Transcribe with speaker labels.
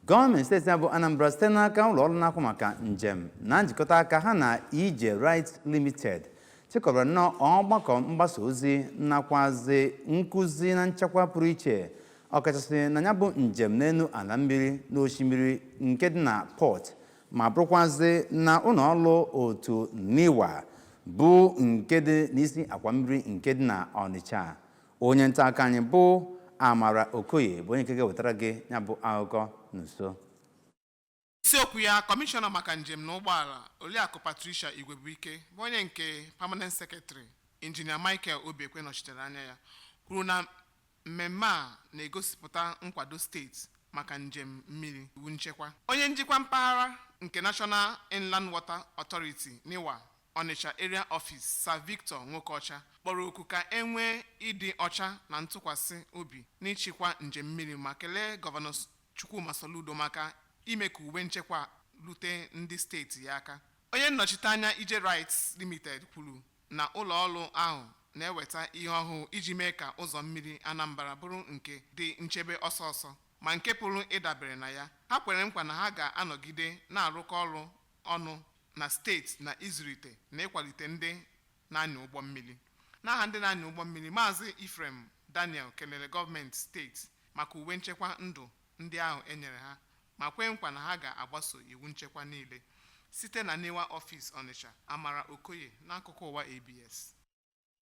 Speaker 1: Gọọmenti steeti a bụ Anambra site n'aka ụlọọrụ na-ahụ maka njem na njikọta aka ha na Ije Rides Limited chịkọbara nnọọ ọgbakọ mgbasa ozi nakwazi nkụzi na nchekwa pụrụ iche ọkachasị na ya bụ njem n'elu ala mmiri na osimiri nke dị na pọt ma bụrụkwazị na ụlọọrụ otu NIWA bụ nke dị n'isi akwa mmiri nke dị na Ọnịcha onye nta akụkọ anyị bụ amara okoye bụ onye nke ga-ewetara gị ya bụ akụkọ
Speaker 2: n'uju isiokwu ya kọmishọna maka njem na ụgbọala oliakụ patricia igwebuike bụ onye nke permanent secretary injinia michael obiekwe nọchitere anya ya kwuru na mmemme a na-egosipụta nkwado steeti maka njem mmiri iwu nchekwa onye njikwa mpaghara nke national inland water authority niwa Ọnịcha Area Office, Sir Victor Nwokeọcha, kpọrọ oku ka e nwee ịdị ọcha na ntụkwasị obi n'ịchịkwa njem mmiri ma kelee Gọvanọ Chukwuma Soludo maka ime ka uwe nchekwa rute ndị steeti ya aka. Onye nnọchiteanya Ije Rides Limited kwuru na ụlọọrụ ahụ na-eweta ihe ọhụụ iji mee ka ụzọ mmiri Anambra bụrụ nke dị nchebe ọsọọsọ ma nke pụrụ ịdabere na ya. Ha kwere nkwa na ha ga-anọgide na-arụkọ ọrụ ọnụ na steeti na ịzụlite na ịkwalite ndị na-anya ụgbọ mmiri. N'aha ndị na-anya ụgbọ mmiri, Maazị Ephraim Daniel kelere gọọmenti steeti maka uwe nchekwa ndụ ndị ahụ e nyere ha ma kwee nkwa na ha ga-agbaso iwu nchekwa niile. Site na NIWA Office Ọnịcha, Amara Okoye n'akụkọ ụwa ABS.